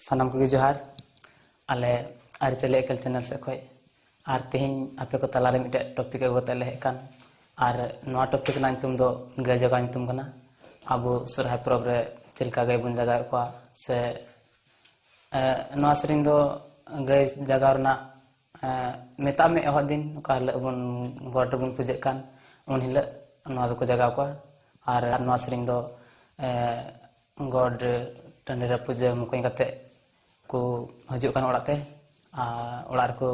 ᱥᱟᱱᱟᱢ ᱠᱚᱜᱮ ᱡᱚᱦᱟᱨ ᱟᱞᱮ ᱟᱹᱨᱤᱪᱟᱹᱞᱤ ᱮᱠᱮᱞ ᱪᱮᱱᱮᱞ ᱥᱮᱫ ᱠᱷᱚᱡ ᱟᱨ ᱛᱮᱦᱮᱧ ᱟᱯᱮ ᱠᱚ ᱛᱟᱞᱟᱨᱮ ᱢᱤᱫᱴᱮᱡ ᱴᱚᱯᱤᱠ ᱟᱹᱜᱩ ᱠᱟᱛᱮ ᱞᱮ ᱦᱮᱡ ᱟᱠᱟᱱ ᱟᱨ ᱱᱚᱣᱟ ᱴᱚᱯᱤᱠ ᱨᱮᱱᱟᱜ ᱧᱩᱛᱩᱢ ᱫᱚ ᱜᱟᱹᱭ ᱡᱟᱜᱟᱣ ᱧᱩᱛᱩᱢ ᱠᱟᱱᱟ ᱟᱵᱚ ᱥᱚᱨᱦᱟᱭ ᱯᱚᱨᱚᱵᱽ ᱨᱮ ᱪᱮᱫ ᱞᱮᱠᱟ ᱜᱟᱹᱭ ᱵᱚᱱ ᱡᱟᱜᱟᱣᱮᱫ ᱠᱚᱣᱟ ᱥᱮ ᱱᱚᱣᱟ ᱥᱮᱨᱮᱧ ᱫᱚ ᱜᱟᱹᱭ ᱡᱟᱜᱟᱣ ᱨᱮᱱᱟᱜ ᱢᱮᱛᱟᱜ ᱢᱮ ᱮᱦᱚᱵ ᱫᱤᱱ ᱚᱠᱟ ᱦᱤᱞᱳᱜ ᱵᱚᱱ ᱜᱚᱴ ᱨᱮᱵᱚᱱ ᱯᱩᱡᱟᱹᱜ ᱠᱟᱱ ᱩᱱ ᱦᱤᱞᱳᱜ ᱱᱚᱣᱟ ᱫᱚᱠᱚ ᱡᱟᱜᱟᱣ ᱠᱚᱣᱟ ᱟᱨ ᱱᱚᱣᱟ ᱥᱮᱨᱮᱧ ᱫᱚ ᱜᱚᱰ ᱴᱟᱺᱰᱤ ᱨᱮ ᱯᱩᱡᱟᱹ ᱢᱚᱠᱚᱧ ᱠᱟᱛᱮ ᱠᱚ ᱦᱤᱡᱩᱜ ᱠᱟᱱᱟ ᱚᱲᱟᱜ ᱛᱮ ᱟᱨ ᱚᱲᱟᱜ ᱨᱮᱠᱚ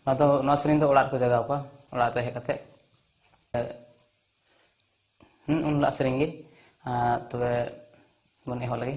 ᱱᱚᱣᱟ ᱫᱚ ᱱᱚᱣᱟ ᱥᱮᱨᱮᱧ ᱫᱚ ᱚᱲᱟᱜ ᱨᱮᱠᱚ ᱡᱟᱜᱟᱣ ᱠᱚᱣᱟ ᱚᱲᱟᱜ ᱛᱮ ᱦᱮᱡ ᱠᱟᱛᱮ ᱩᱱ ᱦᱤᱞᱳᱜ ᱥᱮᱨᱮᱧ ᱜᱮ ᱛᱚᱵᱮ ᱵᱚᱱ ᱮᱦᱚᱵ ᱞᱮᱜᱮ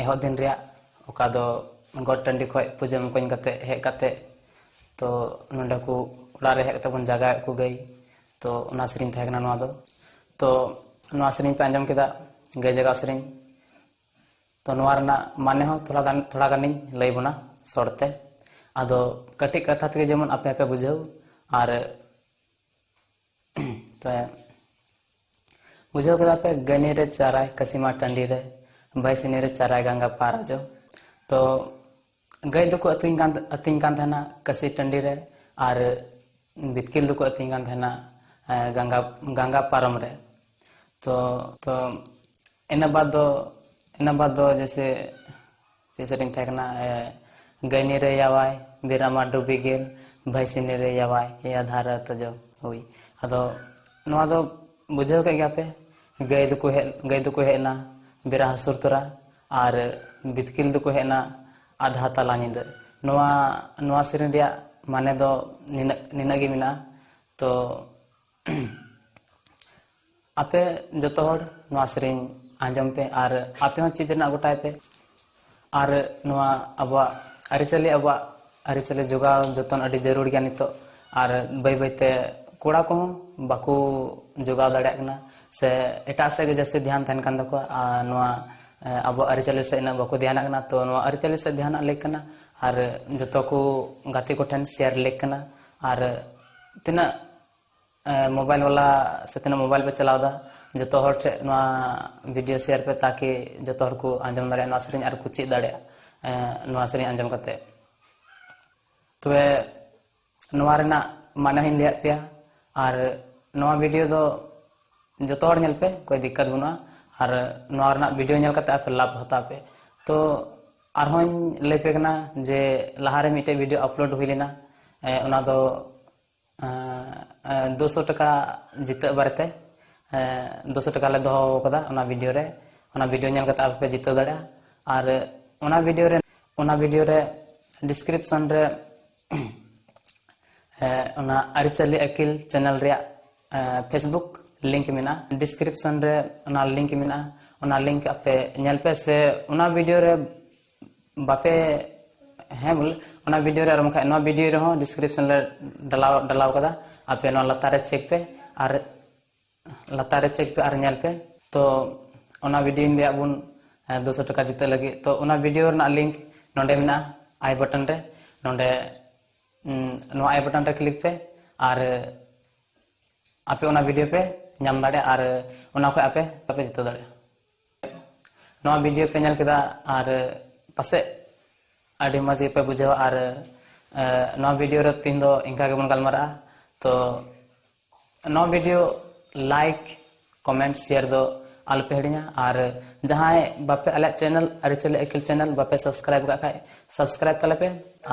ᱮᱦᱚᱵ ᱫᱤᱱ ᱨᱮᱭᱟᱜ ᱚᱠᱟ ᱫᱚ ᱜᱚᱴ ᱴᱟᱺᱰᱤ ᱠᱷᱚᱡ ᱯᱩᱡᱟᱹ ᱢᱚᱠᱚᱧ ᱠᱟᱛᱮ ᱦᱮᱡ ᱠᱟᱛᱮ ᱛᱚ ᱱᱚᱰᱮ ᱠᱚ ᱚᱲᱟᱜ ᱨᱮ ᱦᱮᱡ ᱠᱟᱛᱮ ᱵᱚᱱ ᱡᱟᱜᱟᱣᱮᱫ ᱠᱚ ᱜᱟᱹᱭ ᱛᱚ ᱚᱱᱟ ᱥᱮᱨᱮᱧ ᱛᱟᱦᱮᱸ ᱠᱟᱱᱟ ᱱᱚᱣᱟ ᱫᱚ ᱛᱚ ᱱᱚᱣᱟ ᱥᱮᱨᱮᱧ ᱯᱮ ᱟᱸᱡᱚᱢ ᱠᱮᱫᱟ ᱜᱟᱹᱭ ᱡᱟᱜᱟᱣ ᱥᱮᱨᱮᱧ ᱛᱚ ᱱᱚᱣᱟ ᱨᱮᱱᱟᱜ ᱢᱟᱱᱮ ᱦᱚᱸ ᱛᱷᱚᱲᱟ ᱜᱟᱱ ᱛᱷᱚᱲᱟ ᱜᱟᱱᱤᱧ ᱞᱟᱹᱭ ᱵᱚᱱᱟ ᱥᱚᱨᱴᱛᱮ ᱟᱫᱚ ᱠᱟᱹᱴᱤᱡ ᱠᱟᱛᱷᱟ ᱛᱮᱜᱮ ᱡᱮᱢᱚᱱ ᱟᱯᱮ ᱦᱚᱸᱯᱮ ᱵᱩᱡᱷᱟᱹᱣ ᱟᱨ ᱛᱚ ᱵᱩᱡᱷᱟᱹᱣ ᱠᱮᱫᱟ ᱯᱮ ᱜᱟᱹᱱᱤ ᱨᱮ ᱪᱟᱨᱟᱭ ᱠᱟᱥᱤᱢᱟ ᱴᱟᱺᱰᱤ ᱨᱮ ᱵᱟᱭᱥᱤᱱᱤ ᱨᱮ ᱪᱟᱨᱟᱭ ᱜᱟᱝᱜᱟ ᱯᱟᱨ ᱟᱡᱚ ᱛᱚ ᱜᱟᱹᱭ ᱫᱚᱠᱚ ᱟᱹᱛᱤᱧ ᱠᱟᱱ ᱟᱹᱛᱤᱧ ᱠᱟᱱ ᱛᱟᱦᱮᱱᱟ ᱠᱟᱥᱤ ᱴᱟᱺᱰᱤ ᱨᱮ ᱟᱨ ᱵᱤᱛᱠᱤᱞ ᱫᱚᱠᱚ ᱟᱹᱛᱤᱧ ᱠᱟᱱ ᱛᱟᱦᱮᱱᱟ ᱜᱟᱝᱜᱟ ᱜᱟᱝᱜᱟ ᱯᱟᱨᱚᱢ ᱨᱮ ᱛᱚ ᱛᱚ ᱤᱱᱟᱹ ᱵᱟᱫᱽ ᱫᱚ ᱤᱱᱟᱹ ᱵᱟᱫᱽ ᱫᱚ ᱡᱮᱭᱥᱮ ᱪᱮᱫ ᱥᱮᱨᱮᱧ ᱛᱟᱦᱮᱸ ᱠᱟᱱᱟ ᱜᱟᱹᱭᱱᱤ ᱨᱮ ᱭᱟᱣᱟᱭ ᱵᱤᱨᱟᱢᱟ ᱰᱩᱵᱤ ᱜᱮᱞ ᱵᱷᱟᱹᱭᱥᱤᱱᱤ ᱨᱮ ᱭᱟᱣᱟᱭ ᱮᱭᱟ ᱫᱷᱟᱨᱟ ᱛᱚᱡᱚ ᱦᱩᱭ ᱟᱫᱚ ᱱᱚᱣᱟ ᱫᱚ ᱵᱩᱡᱷᱟᱹᱣ ᱠᱮᱫ ᱜᱮᱭᱟ ᱯᱮ ᱜᱟᱹᱭ ᱫᱚᱠᱚ ᱦᱮᱡ ᱜᱟᱹᱭ ᱫᱚᱠᱚ ᱦᱮᱡ ᱮᱱᱟ ᱵᱮᱨᱟ ᱦᱟᱹᱥᱩᱨ ᱛᱚᱨᱟ ᱟᱨ ᱵᱤᱛᱠᱤᱞ ᱫᱚᱠᱚ ᱦᱮᱡ ᱮᱱᱟ ᱟᱫᱷᱟ ᱛᱟᱞᱟ ᱧᱤᱫᱟᱹ ᱱᱚᱣᱟ ᱱᱚᱣᱟ ᱥᱮᱨᱮᱧ ᱨᱮᱭᱟᱜ ᱢᱟᱱᱮ ᱫᱚ ᱱᱤᱱᱟᱹᱜ ᱱᱤᱱᱟᱹᱜ ᱜᱮ ᱢᱮᱱᱟᱜᱼᱟ ᱛᱚ ᱟᱯᱮ ᱡᱚᱛᱚ ᱦᱚᱲ ᱱᱚᱣᱟ ᱥᱮᱨᱮᱧ ᱟᱸᱡᱚᱢ ᱯᱮ ᱟᱨ ᱟᱯᱮ ᱦᱚᱸ ᱪᱮᱫ ᱨᱮᱱᱟᱜ ᱜᱚᱴᱟᱭ ᱯᱮ ᱟᱨ ᱱᱚᱣᱟ ᱟᱵᱚᱣᱟᱜ ᱟᱹᱨᱤᱪᱟᱹᱞᱤ ᱟᱵᱚᱣᱟᱜ ᱟᱹᱨᱤᱪᱟᱹᱞᱤ ᱡᱚᱜᱟᱣ ᱡᱚᱛᱚᱱ ᱟᱹᱰᱤ ᱡᱟᱹᱨᱩᱲ ᱜᱮᱭᱟ ᱱᱤᱛᱚᱜ ᱟᱨ ᱵᱟᱹᱭ ᱵᱟᱹᱭᱛᱮ ᱠᱚᱲᱟ ᱠᱚᱦᱚᱸ ᱵᱟᱠᱚ ᱡᱚᱜᱟᱣ ᱫᱟᱲᱮᱭᱟᱜ ᱠᱟᱱᱟ ᱥᱮ ᱮᱴᱟᱜ ᱥᱮᱫ ᱜᱮ ᱡᱟᱹᱥᱛᱤ ᱫᱷᱮᱭᱟᱱ ᱛᱟᱦᱮᱱ ᱠᱟᱱ ᱛᱟᱠᱚᱣᱟ ᱟᱨ ᱱᱚᱣᱟ ᱟᱵᱚᱣᱟᱜ ᱟᱹᱨᱤᱪᱟᱹᱞᱤ ᱥᱮᱫ ᱤᱱᱟᱹᱜ ᱵᱟᱠᱚ ᱫᱷᱮᱭᱟᱱᱟᱜ ᱠᱟᱱᱟ ᱛᱚ ᱱᱚᱣᱟ ᱟᱹᱨᱤᱪᱟᱹᱞᱤ ᱥᱮᱫ ᱫᱷᱮᱭᱟᱱᱟᱜ ᱞᱮᱠ ᱠᱟᱱᱟ ᱟᱨ ᱡᱚᱛᱚ ᱠᱚ ᱜᱟᱛᱮ ᱠᱚᱴᱷᱮᱱ ᱥᱮᱭᱟᱨ ᱞᱮᱠ ᱠᱟᱱᱟ ᱟᱨ ᱛᱤᱱᱟᱹᱜ ᱢᱳᱵᱟᱭᱤᱞ ᱵᱟᱞᱟ ᱥᱮ ᱛᱤᱱᱟᱹᱜ ᱢᱳᱵᱟᱭᱤᱞ ᱯᱮ ᱪᱟᱞᱟᱣᱫᱟ ᱡᱚᱛᱚ ᱦᱚᱲ ᱴᱷᱮᱡ ᱱᱚᱣᱟ ᱵᱷᱤᱰᱤᱭᱳ ᱥᱮᱭᱟᱨ ᱯᱮ ᱛᱟᱠᱤ ᱡᱚᱛᱚ ᱦᱚᱲ ᱠᱚ ᱟᱸᱡᱚᱢ ᱫᱟᱲᱮᱭᱟᱜ ᱱᱚᱣᱟ ᱥᱮᱨᱮᱧ ᱟᱨ ᱠᱚ ᱪᱮᱫ ᱫᱟᱲᱮᱭᱟᱜ ᱱᱚᱣᱟ ᱥᱮᱨᱮᱧ ᱟᱸᱡᱚᱢ ᱠᱟᱛᱮ ᱛᱚᱵᱮ ᱱᱚᱣᱟ ᱨᱮᱱᱟᱜ ᱢᱟᱱᱮ ᱦᱚᱧ ᱞᱟᱹᱭᱟᱫ ᱯᱮᱭᱟ ᱟᱨ ᱱᱚᱣᱟ ᱵᱷᱤᱰᱤᱭᱳ ᱫᱚ ᱡᱚᱛᱚ ᱦᱚᱲ ᱧᱮᱞ ᱯᱮ ᱠᱳᱭ ᱫᱤᱠᱠᱟᱛ ᱵᱟᱹᱱᱩᱜᱼᱟ ᱟᱨ ᱱᱚᱣᱟ ᱨᱮᱱᱟᱜ ᱵᱷᱤᱰᱤᱭᱳ ᱧᱮᱞ ᱠᱟᱛᱮ ᱟᱯᱮ ᱞᱟᱵᱷ ᱦᱟᱛᱟᱣ ᱯᱮ ᱛᱚ ᱟᱨᱦᱚᱧ ᱞᱟᱹᱭ ᱯᱮ ᱠᱟᱱᱟ ᱡᱮ ᱞᱟᱦᱟᱨᱮ ᱢᱤᱫᱴᱮᱡ ᱵᱷᱤᱰᱤᱭᱳ ᱟᱯᱞᱳᱰ ᱦᱩᱭ ᱞᱮᱱᱟ ᱚᱱᱟ ᱫᱚ ᱫᱩᱥᱚ ᱴᱟᱠᱟ ᱡᱤᱛᱟᱹᱜ ᱵᱟᱨᱮᱛᱮ ᱫᱩᱥᱚ ᱴᱟᱠᱟ ᱞᱮ ᱫᱚᱦᱚ ᱟᱠᱟᱫᱟ ᱚᱱᱟ ᱵᱷᱤᱰᱤᱭᱳ ᱨᱮ ᱚᱱᱟ ᱵᱷᱤᱰᱤᱭᱳ ᱧᱮᱞ ᱠᱟᱛᱮ ᱟᱯᱮ ᱯᱮ ᱡᱤᱛᱟᱹᱣ ᱫᱟᱲᱮᱭᱟᱜᱼᱟ ᱟᱨ ᱚᱱᱟ ᱵᱷᱤᱰᱤᱭᱳ ᱨᱮ ᱚᱱᱟ ᱵᱷᱤᱰᱤᱭᱳ ᱨᱮ ᱰᱤᱥᱠᱨᱤᱯᱥᱚᱱ ᱨᱮ ᱚᱱᱟ ᱟᱹᱨᱤᱪᱟᱹᱞᱤ ᱟᱹᱠᱤᱞ ᱪᱮᱱᱮᱞ ᱨᱮᱭᱟᱜ ᱯᱷᱮᱥᱵᱩᱠ ᱞᱤᱝᱠ ᱢᱮᱱᱟᱜᱼᱟ ᱰᱤᱥᱠᱨᱤᱯᱥᱚᱱ ᱨᱮ ᱚᱱᱟ ᱞᱤᱝᱠ ᱢᱮᱱᱟᱜᱼᱟ ᱚᱱᱟ ᱞᱤᱝᱠ ᱟᱯᱮ ᱧᱮᱞ ᱯᱮ ᱥᱮ ᱚᱱᱟ ᱵᱷᱤᱰᱤᱭᱳ ᱨᱮ ᱵᱟᱯᱮ ᱦᱮᱸ ᱵᱚᱞᱮ ᱚᱱᱟ ᱵᱷᱤᱰᱤᱭᱳ ᱨᱮ ᱟᱨ ᱵᱟᱝᱠᱷᱟᱱ ᱱᱚᱣᱟ ᱵᱷᱤᱰᱤᱭᱳ ᱨᱮᱦᱚᱸ ᱰᱤᱥᱠᱨᱤᱯᱥᱚᱱ ᱨᱮ ᱰᱟᱞᱟᱣ ᱰᱟᱞᱟᱣ ᱠᱟᱫᱟ ᱟᱯᱮ ᱱᱚᱣᱟ ᱞᱟᱛᱟᱨ ᱨᱮ ᱪᱮᱠ ᱯᱮ ᱟᱨ ᱞᱟᱛᱟᱨ ᱨᱮ ᱪᱮᱠ ᱯᱮ ᱟᱨ ᱧᱮᱞ ᱯᱮ ᱛᱚ ᱚᱱᱟ ᱵᱷᱤᱰᱤᱭᱳ ᱞᱟᱹᱭᱟᱫ ᱵᱚᱱ ᱫᱩᱥᱚ ᱴᱟᱠᱟ ᱡᱤᱛᱟᱹᱜ ᱞᱟᱹᱜᱤᱫ ᱛᱚ ᱚᱱᱟ ᱵᱷᱤᱰᱤᱭᱳ ᱨᱮᱱᱟᱜ ᱞᱤᱝᱠ ᱱᱚᱰᱮ ᱢᱮᱱᱟᱜᱼᱟ ᱟᱭ ᱵᱚᱴᱚᱱ ᱨᱮ ᱱᱚᱰᱮ ᱱᱚᱣᱟ ᱟᱭ ᱵᱚᱴᱚᱱ ᱨᱮ ᱠᱞᱤᱠ ᱯᱮ ᱟᱨ ᱟᱯᱮ ᱚᱱᱟ ᱵᱷᱤᱰᱤᱭᱳ ᱯᱮ ᱧᱟᱢ ᱫᱟᱲᱮᱭᱟᱜᱼᱟ ᱟᱨ ᱚᱱᱟ ᱠᱷᱚᱱ ᱟᱯᱮ ᱟᱯᱮ ᱡᱤᱛᱟᱹᱣ ᱫᱟᱲᱮᱭᱟᱜᱼᱟ ᱱᱚᱣᱟ ᱵᱷᱤᱰᱤᱭᱳ ᱯᱮ ᱧᱮᱞ ᱠᱮᱫᱟ ᱟᱨ ᱯᱟᱥᱮᱡ ᱟᱹᱰᱤ ᱢᱚᱡᱽ ᱜᱮᱯᱮ ᱵᱩᱡᱷᱟᱹᱣᱟ ᱟᱨ ᱱᱚᱣᱟ ᱵᱷᱤᱰᱤᱭᱳ ᱨᱮ ᱛᱤᱦᱤᱧ ᱫᱚ ᱤᱱᱠᱟ ᱜᱮᱵᱚᱱ ᱜᱟᱞᱢᱟᱨᱟᱜᱼᱟ ᱛᱚ ᱱᱚᱣᱟ ᱵᱷᱤᱰᱤᱭᱳ ᱞᱟᱭᱤᱠ ᱠᱚᱢᱮᱱᱴ ᱥᱮᱭᱟᱨ ᱫᱚ ᱟᱞᱚᱯᱮ ᱦᱤᱲᱤᱧᱟ ᱟᱨ ᱡᱟᱦᱟᱸᱭ ᱵᱟᱯᱮ ᱟᱞᱮᱭᱟᱜ ᱪᱮᱱᱮᱞ ᱟᱹᱨᱤᱪᱟᱹᱞᱤ ᱟᱹᱠᱤᱞ ᱪᱮᱱᱮᱞ ᱵᱟᱯᱮ ᱥᱟᱵᱥᱠᱨᱟᱭᱤᱵ ᱠᱟᱜ ᱠᱷᱟᱡ ᱥᱟᱵᱥᱠᱨᱟᱭᱤᱵ ᱛᱟᱞᱮ ᱯᱮ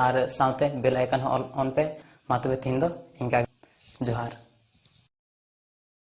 ᱟᱨ ᱥᱟᱶᱛᱮ ᱵᱮᱞ ᱟᱭᱠᱚᱱ ᱦᱚᱸ ᱚᱱ ᱯᱮ ᱢᱟ ᱛᱚᱵᱮ ᱛᱤᱦᱤᱧ ᱫᱚ ᱤᱱᱠᱟ ᱡᱚᱦᱟᱨ